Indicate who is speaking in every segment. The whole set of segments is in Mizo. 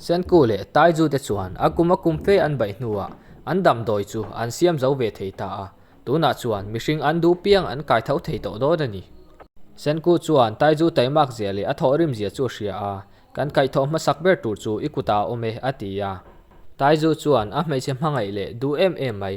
Speaker 1: Senku leh Taizu te chuan a kum a kum fe an baih hnuah an damdawi chu an siam zo ve thei ta a, tunah chuan mihring an duh piang an kai tho thei tawh dawt a ni. Senku chuan Taizu taimak zia leh a thawh rim zia chu a hria a, kan kai thawh hmasak ber tur chu i kutah a awm e a ti a. Taizu chuan a hmeichhe hmangaih leh duh em em mai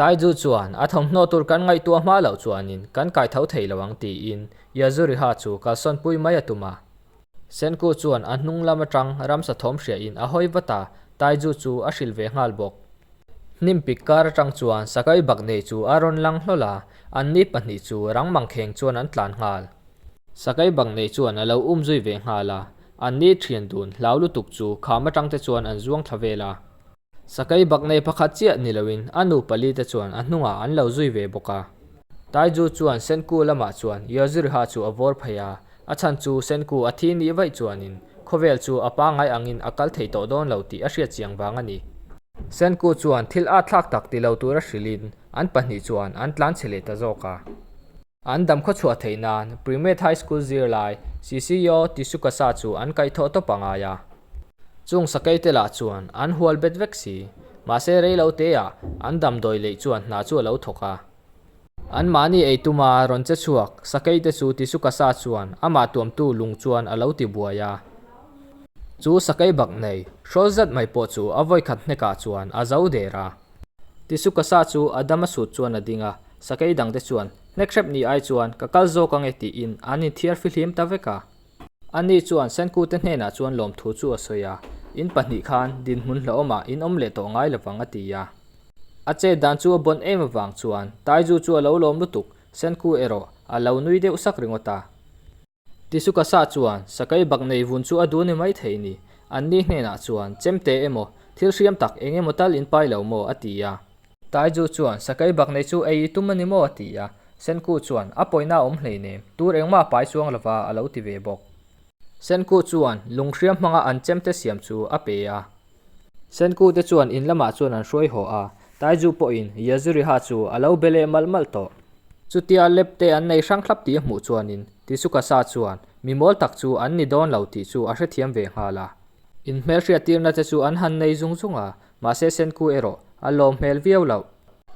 Speaker 1: Taiju chuan, A thawmhnaw tur kan ngaihtuah hma loh chuanin kan kai tho thei lo ang tiin Yazuriha chu kalsawn pui mai a tum a. Senku chuan a hnung lam atang ramsa thawm hriain a hawi vat a, Taiju chu a hrilh ve nghal bawk. Hnim pik kar atang chuan Sakai bak nei chu a rawn lang hlawl a, an ni pahnih chu rang mangkheng chuan an tlan nghal. Sakai bak nei chuan a lo um zui ve nghal a, an ni thian dun hlau lutuk chu kham atangte chuan an zuang thla vel a. Sakai bak nei pakhat chiah ni loin a nu pali te chuan a hnungah an lo zui ve bawk a. Taiju chuan Senku lamah chuan Yozirha chu a vawr phei a, a chhan chu Senku a thi ni vaih chuanin khawvel chu a pangai angin a kal thei tawh dawn lo tih a hriat chiang vang a ni. Senku chuan thil a thlak tak ti lo tura hrilhin an pahnih chuan an tlan chhe leh ta zawk a. An dam khawchhuah theih nan Primate High School zirlai CCEO Tisuka Sa chu an kaih thawh tawp a ngai a. Chung sakei te lah chuan an hual bet vek si, mahse rei lo te ah an dam dawi leih chuan hna chu a lo thawk a. An mahni ei tuma rawn che chhuak sakei te chu Tisuka Sa chuan amah tuamtu lung chuan a lo ti buai a. Chu sakei bak nei, hrawl zat mai pawh chu a vawikhat hnek ah chuan a zo der a. Tisukasa chu a dam a sut chuan a ding a, sakei dangte chuan, Hnekrep ni ai chuan ka kal zawk ange tiin an inthiarfi hlim ta vek a. Ani chuan Senkute hnenah chuan lawmthu chu a sawi a, in pahnih khan dinhmun hlauhawmah in awm leh tawh ngai lovang a ti a. A chet dan chu a bawn em avang chuan Taizu chu a lo lawm lutuk, Senku erawh a lo nui deuh sak ringawt a. Tisukasa chuan Sakai bak nei vun chu a dun e mai thei ni? Anni hnenah chuan chem te emaw, thil hriam tak eng emaw tal in pai lo maw? a ti a. Taiju chuan Sakai bak nei chu ei i tum a ni maw? a ti a. Senku chuan a pawina awm hleinem, tur engmah a pai chuang lova a lo ti ve bawk. Senku chuan lung hriam hmanga an chem te siam chu a pe a. Senkute chuan in lamah chuan an hruai haw a, Taizu pawhin Yaziriha chu a lo be leh malh malh tawh. Chutia lep te an nei hrang thlap tih a hmuh chuanin Tisukasa chuan mimawl tak chu an ni dawn lo tih chu a hrethiam ve nghal a. In hmelhriat tirna te chu an han nei zung zung a, mahse Senku erawh a lawm hmel viau loh.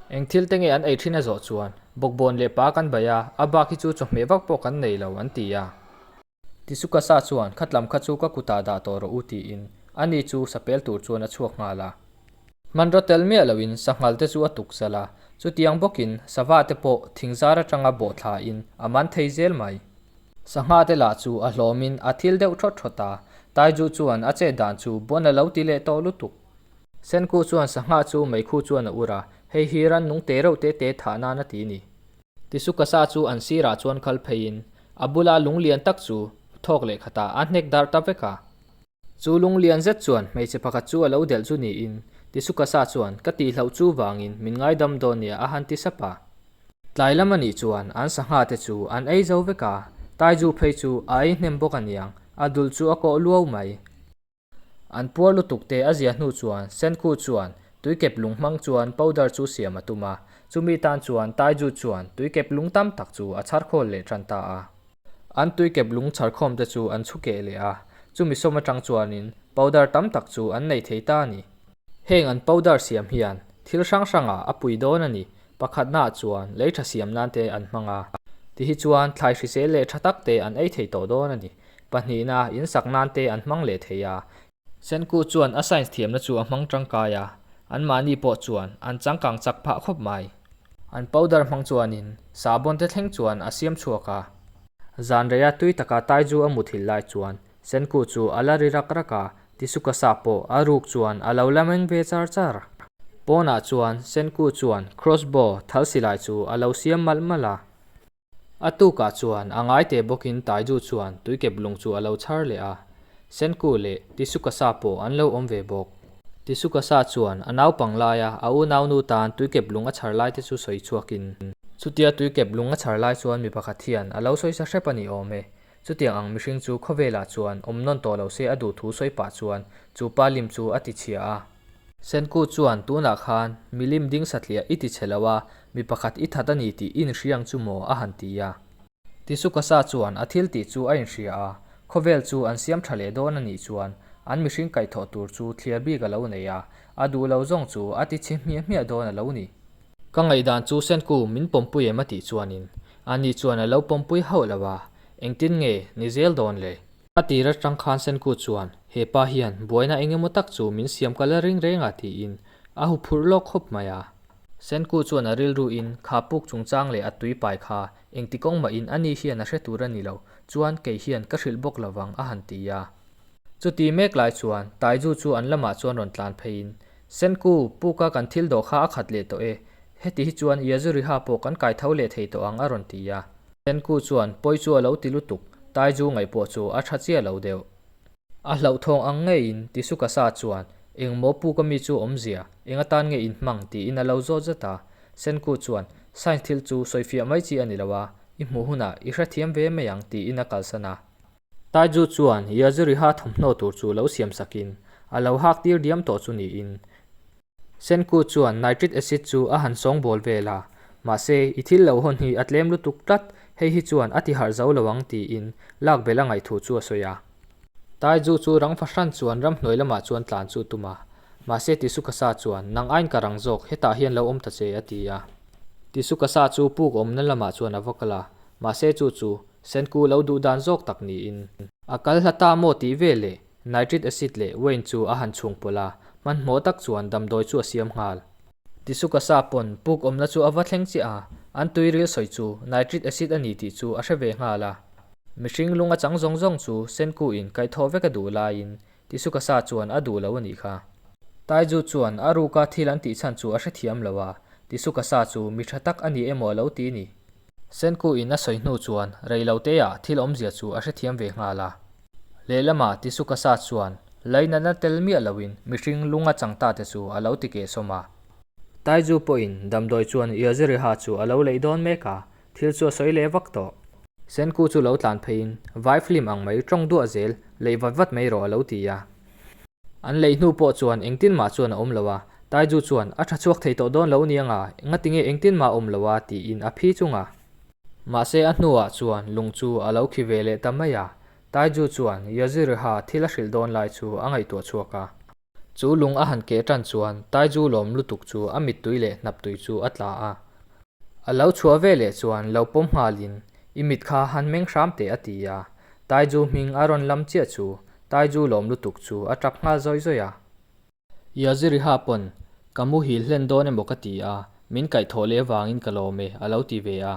Speaker 1: Eng thil te nge an ei thin a zawh chuan bawkbawn leh pa kan baih a, a bak hi chu chawhmeh vak pawh kan nei lo, an ti a. Tisukasa chuan, Khatlam kha chu ka kutah dah tawh rawh u tiin a ni chu sapel tur chuan a chhuak nghal a. Hmanraw tel miah loin sanghal te chu a tuk zal a, chutiang bawkin sava te pawh thingzar atanga bawhthla in a man thei zel mai. Sangha te lah chu a hlawmin a thil deuh thawt thawt a, Taiju chuan a chet dan chu buan a lo ti leh tawh lutuk. Senku chuan, Sangha chu meikhu chuan a ur a, hei hi ran nung te reuh te te thah nan a ti ni. Tisukasa chu an sirah chuan kal pheiin a bula lung lian tak chu thawk leh khata a hnek dar ta vek a. Chu lung lian zet chuan hmeichhe pakhat chu a lo delh chu niin Tisukasa chuan ka tih hlauh chu vangin min ngaidam dawn nia a han ti sap a. Tlai lam a nih chuan an sangha te chu an ei zo vek a, Taiju phei chu a ei hnem bawk a niang, a dul chu a kawh luau mai. An puar lutuk te a zia hnu chuan Senkhu chuan tuikep lung hmang chuan powder chu siam a tum a, chumi tan chuan Taiju chuan tuikep lung tam tak chu a chhar khawl leh tan ta a. An tuikep lung chhar khawm te chu an chhu keh leh a, chumi sawm atang chuanin powder tam tak chu an nei thei ta a ni. Heng an powder siam hian thil hrang hrangah a pui dawn a ni, Pakhatnaah chuan lei tha siam nan te an hmang a, ti hi chuan thlai hrisel leh tha tak te an ei thei tawh dawn a ni. Pahnihna, in sak nan te an hmang leh thei a. Senku chuan a science thiamna chu a hmang tangkai a, an mahni pawh chuan an changkang chak phah khawp mai. An powder hmang chuanin sahbawn te thleng chuan a siam chhuak a. Zanreia tui taka Taiju a muthil lai chuan Senku chu a la ri rak rak a, Ti su ka sa pawh a ruk chuan a lo la meng ve char char. Pawnah chuan Senku chuan cross bow thal silai chu a lo siam malh malh a. A tukah chuan a ngai teh bawkin Taiju chuan tui kep lung chu a lo chhar leh a. Senku leh Ti su ka sa pawh an lo awm ve bawk. Ti su ka sa chuan a naupang laia a unaunu tan tui kep lung a chhar lai te chu sawi chhuakin. Chutia tui kep lung a chhar lai chuan mi pakhat hian a lo sawi sa hrep a ni awm e. Chutiang ang mihring chu khawvelah chuan awm nawn tawh lo se a duh thu sawi pah chuan chu pa lim chu a ti chhia a. Senkut chuan tunah khan milim ding satliah i ti chhe lo a, mi pakhat i that a ni tih i inhriang chu maw a han ti a. Tisukasa chuan a thil tih chu a inhria a, khawvel chu an siam tha leh dawn a nih chuan an mihring kaihthawh tur chu thliar bik a lo nei a, a duh lo zawng chu a ti chhi hmiah hmiah dawn a lo ni. Ka ngaihdan chu Senku min pawmpui em a tih chuanin a ni chuan a lo pawmpui hauh lo a, engtin nge ni zel dawn le? A tih rat tang khan Senku chuan hepa hian buaina eng emaw tak chu min siam kal a reng reng a tiin a hu phurh lawk khawp mai a. Senku chuan a rilru in kha puk chungchang leh a tui pai kha engti kawng mahin a ni hian a hre tur a ni lo chuan kei hian ka hrilh bawk lo vang a han ti a. Chuti mek lai chuan Taiju chu an lamah chuan rawn tlan phei in Senku, Puka kan thil dawh kha a khat leh tawh e, heti hi chuan Iazuriha pawh kan kai tho leh thei tawh ang a rawn ti a. Senku chuan, Pawi chu a lo ti lutuk, Taizu ngaih pawh chu a tha chiah lo deuh. A hlauhthawng ang ngeiin Tisukasa chuan, Engmaw Puka mi chu awm zia, enga tan nge in hmang tiin a lo zawt zat a. Senku chuan, Science thil chu sawifiah mai chi a ni lo a, i hmuh hunah i hrethiam ve mai ang tiin a kalsan a. Taiju chuan Yaziriha thawmhnaw tur chu lo siam sakin a lo hak tir diam tawh chu niin, Senkut chuan Nitric Acid chu a han sawng bawl vel a, mahse i thil lo hawn hi a tlem lutuk tlat, hei hi chuan a ti harh zo lo ang tiin lak belh a ngaih thu chu a sawi a. Taiju chu rang fahran chuan ram hnuai lamah chuan tlan chu tum a, mahse Tisukasa chuan Nang ain ka rang zawk, hetah hian lo awm ta che a ti a. Tisukasa chu puk awmna lamah chuan a va kal a, mahse chu chu Senku lo duh dan zawk tak niin. A kal hla ta maw tih vel leh Nitric acid leh Wayne chu a han chhung pawlh a, hmanhmawh tak chuan damdawi chu a siam nghal. Tisukasa pawn puk awmna chu a va thleng chiah a, an tui rilsawi chu Nitric acid a ni tih chu a hre ve nghal a. Mihring lung a chang zawng zawng chu Senku in kaih thawh vek a duh laiin Tisukasa chuan a duh lo a nih kha. Taiju chuan a ruka thil an tih chhan chu a hre thiam lo a, Tisukasa chu mi tha tak a ni emaw a lo ti ni. Senku in a sawi hnu chuan rei lo teia thil awmzia chu a hrethiam ve nghal a. Lehlama Tisukasa chuan Lei natna tel miah loin mihring lunga changta te chu a lo ti keh sawm a. Taizu pawhin damdawi chuan Iaziriha chu a lo leih dawn mek a, thil chu a sawi leh vak tawh. Senku chu lo tlan pheiin, Vai flim ang mai, tawng duah zel, leih vat vat mai rawh a lo ti a. An lei hnu pawh chuan engtin mah chuan a awm lo a, Taiju chuan a tha chhuak thei tawh dawn lo aniang a, ngatinge engtin mah a awm lo a tiin a phi chung a. Mahse a hnuah chuan lung chu a lo khi ve leh ta mai a, Taiju chuan Yaziriha thil a hrilh dawn lai chu a ngaihtuah chhuak a. Chu lung a han keh tan chuan Taiju lawm lutuk chu a mittui leh hnaptui chu a tla a. A lo chhuah veleh chuan lo pawm nghal in, I mit kha han meng hram teh a ti a, Taiju hming a rawn lam chiah chu, Taiju lawm lutuk chu a ṭap nghal zawih zawih a. Ia Ziriha pawn ka mu hil hlen dawn emaw ka ti a, min kaih thawh leh vangin ka lawm e, a lo ti ve a.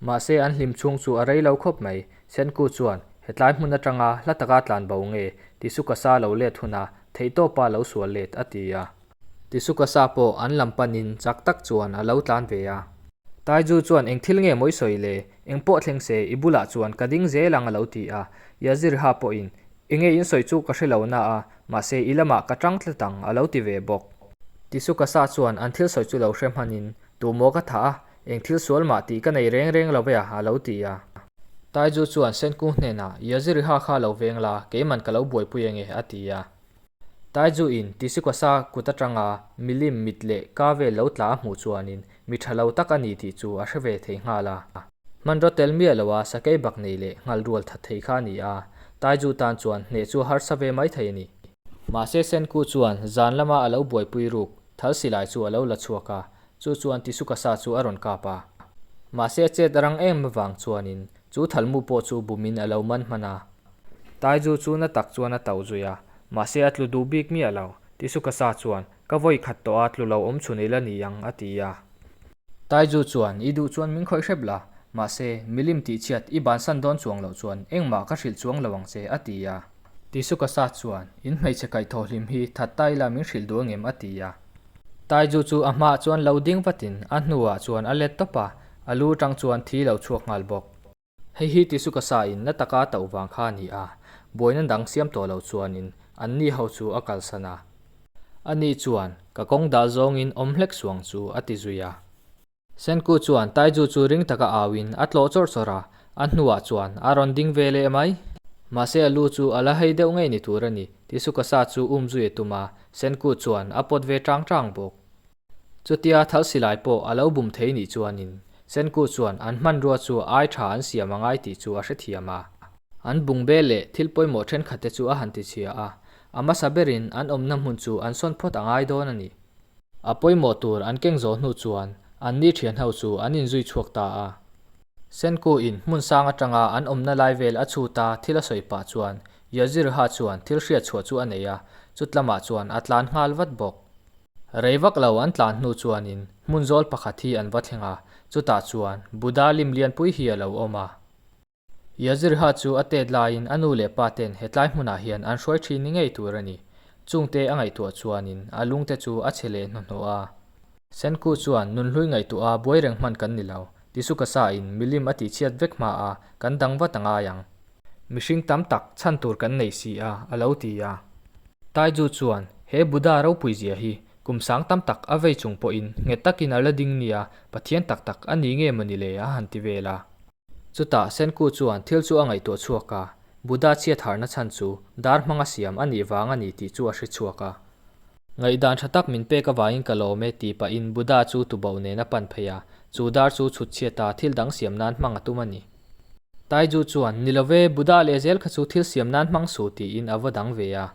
Speaker 1: Mahse an hlim chhung chu a rei lo khawp mai. Senku chuan, Hetlai hmun aṭanga hla taka tlan bo nge? Ti su ka sa lo let hunah, theihtawpa lo sual let, a ti a. Tisukasa pawh an lam panin chak tak chuan a lo tlan ve a. Taiju chuan eng thil nge mawi sawi le, eng pawh thleng se, i bulah chuan ka ding zel ang a lo ti a. Yazirha pawhin, I nge in sawi chu ka hre lo na a, mahse i lamah ka tang tlat ang a lo ti ve bawk. Tisukasa chuan an thil sawi chu lo hre hmanin, tu maw ka thah a, eng thil sual mah tih ka nei reng reng lo ve a, a lo ti a. Taiju chuan Senkung hnenah, Yazirha kha lo veng la, keiman ka lo buaipui ange? a ti a. Taizu in Tisikosa kut atanga milim mit leh ka vel lo tla a hmuh chuanin mi tha lo tak a ni tih chu a hre ve thei nghal a. Hmanraw tel miah lo a sakei bak nei leh nghal rual that thei kha a ni a, Taizu tan chuan hneh chu a harsa ve mai thei a ni. Mahse Senku chuan zan lama a lo buaipui ruk thal silai chu a lo la chhuak a, chu chuan Tisukasa chu a rawn kap a. Mahse a chet a rang em avang chuanin Chu Thalmu pawh chu bumin a lo man hman a. Taizu chu na tak chuan a to zui a, mahse a tlu duh bik miah lo. Tisukasa chuan, Ka vawi khat tawh a, tlu lo awm chhu nei la ni ang, a ti a. Taizu chuan, I duh chuan min khawih hrep la, mahse, milim tihchhiat i bansan dawn chuang loh chuan engmah ka hrilh chuang lo ang che, a ti a. Ti suka sa chuan, In hmeichhe kaih thawh hlim hi that ta ila min hrilh duh angem? a ti a. Taiju chu a hmah chuan lo ding vatin a hnuah chuan a let tawp a, a lu tang chuan thi lo chhuak nghal bawk. Hei hi ti suka sa in la taka tauh vang kha a ni a, buaina dang siam tawh lo chuanin an ni ho chu a kalsan a. Ani chuan, Ka kawng dah zawngin awm hlek suang chu, a ti zui a. Senku chuan Taiju chu ring taka au in a tlawh chawrh chawrh a, a hnuah chuan a rawn ding ve leh mai. Mahse a lu chu a la hei deuh ngei ni tur a ni tih Sukasa chu um zui a tum a, Senku chuan a pawt ve ṭang ṭang bawk. Chutia Thalsilai pawh a lo bum thei nih chuanin Senku chuan an hmanrua chu ai ṭha an siam a ngai tih chu a hrethiam a. An bung bel leh thil pawimawh ṭhenkhat te chu a han tichhia a, a hmasa berin an awmna hmun chu an sawn phawt a ngai dawn a ni. A pawimawh tur an keng zawh hnu chuan an ni thian ho chu an inzui chhuak ta a. Senku in hmun sang atanga an awmna lai vel a chhut a thil a sawi pah chuan Yazirha chuan thil hriat chhuah chu a nei a, chut lamah chuan a tlan nghal vat bawk. Rei vak lo an tlan hnu chuanin hmun zawl pakhat hi an va thleng a, chutah chuan Buddha lim lianpui hi a lo awm a. Yazirha chu a tet laiin a nu leh pa ten hetlai hmunah hian an hruai thin ni ngei tur a ni. Chungte a ngaihtuah chuanin a lungte chu a chhe leh hnuhnawh a. Senku chuan, Nun hlui ngaihtuah a buai reng hman kan ni lo, ti su ka sain milim a tihchhiat vek hma a, kan dang vat a ngai ang. Mihring tam tak chhan tur kan nei si a, a lo ti a. Taiju chuan, He Buddha ropui zia hi kum sang tam tak a vei chung pawhin nghet takin a la ding nia, Pathian tak tak a ni nge mawni le? a han ti vel a. Chutah Senku chuan thil chu a ngaihtuah chhuak a, Buddha chhiatharna chhan chu dar hmanga siam a nih vang a ni tih chu a hre chhuak a. Ngaihdan tha tak min pek avangin ka lawm e tih pahin Buddha chu tubauh nen a pan phei a, chu dar chu chhutchhiat a, thil dang siam nan hmang a tum a ni. Taiju chuan, Ni lo ve, Buddha leh zel kha chu thil siam nan hmang su tiin a va dang ve a.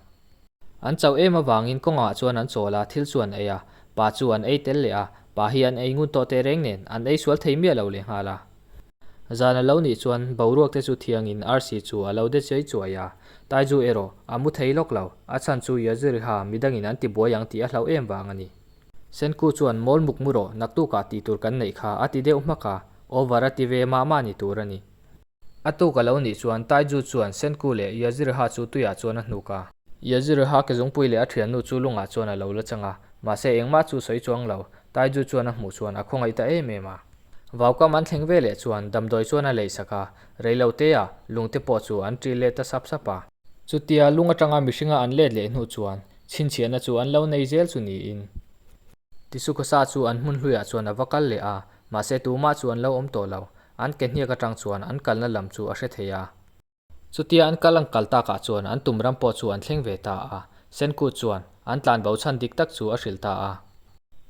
Speaker 1: An chauh em avangin kawngah chuan an chawl a, thil chu an ei a, pa chu an ei tel leh a, pa hi an ei ngun tawh teh reng nen, an ei sual thei miah lo leh nghal a. Zan a lo nih chuan boruak te chu thiangin arsi chu a lo de chuai chuai a, Taizu erawh a mu thei lawk lo, a chhan chu Yaziriha mi dangin an ti buai ang tih a hlauh em vang a ni. Senku chuan Mawl muk mu rawh, naktukah tih tur kan neih kha a ti deuh hmak a, over a ti ve mah mah ni tur a ni. A tuk a lo nih chuan Taiju chuan Senku leh Yaziriha chu tuiah chuan a hnuk a. Yaziriha ke zungpui leh a thiannu chu lungah chuan a lo la chang a, mahse engmah chu sawi chuang lo. Taiju chuan a hmuh chuan a khawngaih ta em em a. Vaukam an thleng veleh chuan damdawi chuan a lei sak a, rei lo teia lungte pawh chu an ṭil let ta sap sap a. Chutia lung aṭanga mihringa an let leh hnu chuan chhinchhiahna chu an lo nei zel chu niin. Tisukhosa chu an hmun hluiah chuan a va kal leh a, mahse tumah chu an lo awm tawh lo. An ke hniak atang chuan an kalna lam chu a hre thei a. Chutia an kal ang kal takah chuan an tum ram pawh chu an thleng ve ta a. Senkut chuan, An tlan bo chhan dik tak chu a hrilh ta a.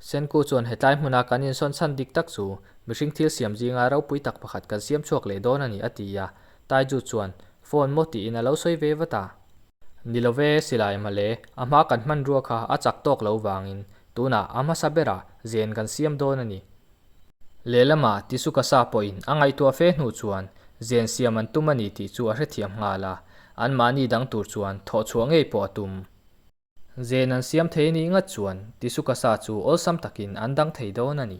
Speaker 1: Senkut chuan, Hetlai hmuna kan insawn chhan dik tak chu mihring thil siam zinga ropui tak pakhat kan siam chhuak leh dawn a ni, a ti a. Taiju chuan, Phone maw tiin a lo sawi ve vat a. Ni lo ve silai mah le, a hma kan hmanrua kha a chak tawk lo vangin tunah a hmasa berah zen kan siam dawn a ni. Lehlama tisu ka sa pawhin a ngaihtuah fe hnu chuan zen siam an tum a ni tih chu a hrethiam nghal a, anmahni dang tur chuan thawh chhuah ngei pawh a tum. Zen an siam thei a nih ngat chuan tisu ka sa chu awlsam takin an dang thei dawn a ni.